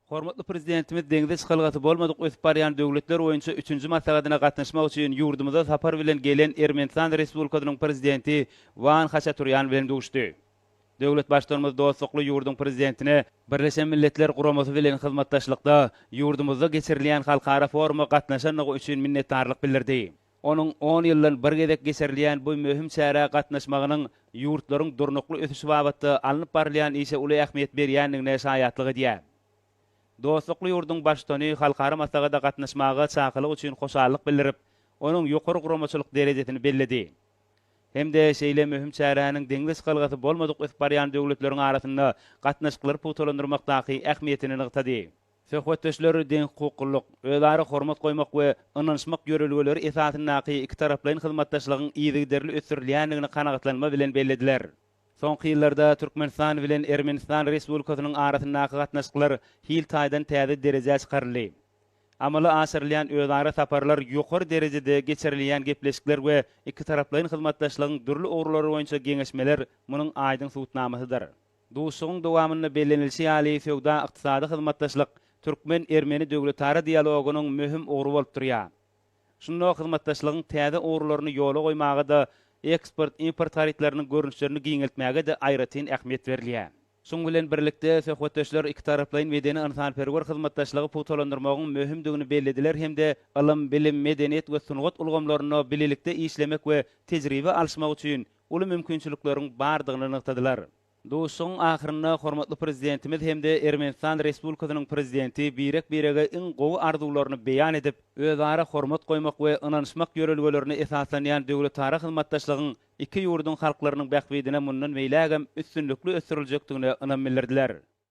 Hormatly Prezidentimiz deňze çykalgasy bolmadyk ösüp barýan döwletler boýunça üçünji maslahatyna gatnaşmak üçin ýurdumyza sapar bilen gelen Ermenistan Respublikasynyň Prezidenti Wan Haçaturýan bilen duşdy. Döwlet Baştutanymyz dostlukly ýurduň Prezidentine, Birleşen Milletler Guramasy bilen hyzmatdaşlykda ýurdumyzda geçirilýän halkara foruma gatnaşandygy üçin minnetdarlyk bildirdi. Onuň on ýyldan bir gezek geçirilýän bu möhüm çärä gatnaşmagynyň ýurtlaryň durnukly ösüşi babatda alnyp barylýan işe uly ähmiýet berýändigine şaýatlyk edýär. Dostlukly ýurduň Baştutany halkara maslahata gatnaşmaga çakylyk üçin hoşallyk bildirip, onuň ýokary guramaçylyk derejesini belledi hem-de şeýle möhüm çäräniň deňze çykalgasy bolmadyk ösüp barýan döwletleriň arasynda gatnaşyklary pugtalandyrmakdaky ähmiýetini nygtady. Söhbetdeşler deňhukuklylyk, özara hormat goýmak we ynanyşmak ýörelgeleri esasyndaky ikitaraplaýyn hyzmatdaşlygyň yzygiderli ösdürilýändigini kanagatlanma bilen bellediler. Soňky ýyllarda Türkmenistan bilen Ermenistan Respublikasynyň arasyndaky gatnaşyklar hil taýdan täze derejä çykaryldy. Amala aşyrylýan özara saparlar ýokary derejede geçirilýän gepleşikler we ikitaraplaýyn hyzmatdaşlygyň dürli ugurlary boýunça geňeşmeler munuň aýdyň subutnamasydyr. Duşuşygyň dowamynda bellenilişi ýaly, söwda-ykdysady hyzmatdaşlyk türkmen-ermeni döwletara dialogynyň möhüm ugry bolup durýar. Şunda hyzmatdaşlygyň täze ugurlaryny ýola goýmaga-da, eksport-import harytlarynyň görnüşlerini giňeltmäge-de aýratyn ähmiýet berilýär. Şunuň bilen birlikde, söhbetdeşler ikitaraplaýyn medeni-ynsanperwer hyzmatdaşlygy pugtalandyrmagyň möhümdigini bellediler hem-de ylym, bilim, medeniýet we sungat ulgamlarynda bilelikde işlemek we tejribe alyşmak üçin uly mümkinçilikleriň bardygyny nygtadylar. Duşuşygyň ahyrynda hormatly Prezidentimiz hem-de Ermenistan Respublikasynyň Prezidenti birek-birege iň gowy arzuwlaryny beýan edip, özara hormat goýmak we ynanyşmak ýörelgelerine esaslanýan döwletara hyzmatdaşlygyň iki ýurduň halklarynyň bähbidine mundan beýlägem üstünlikli ösdüriljekdigine ynam bildirdiler.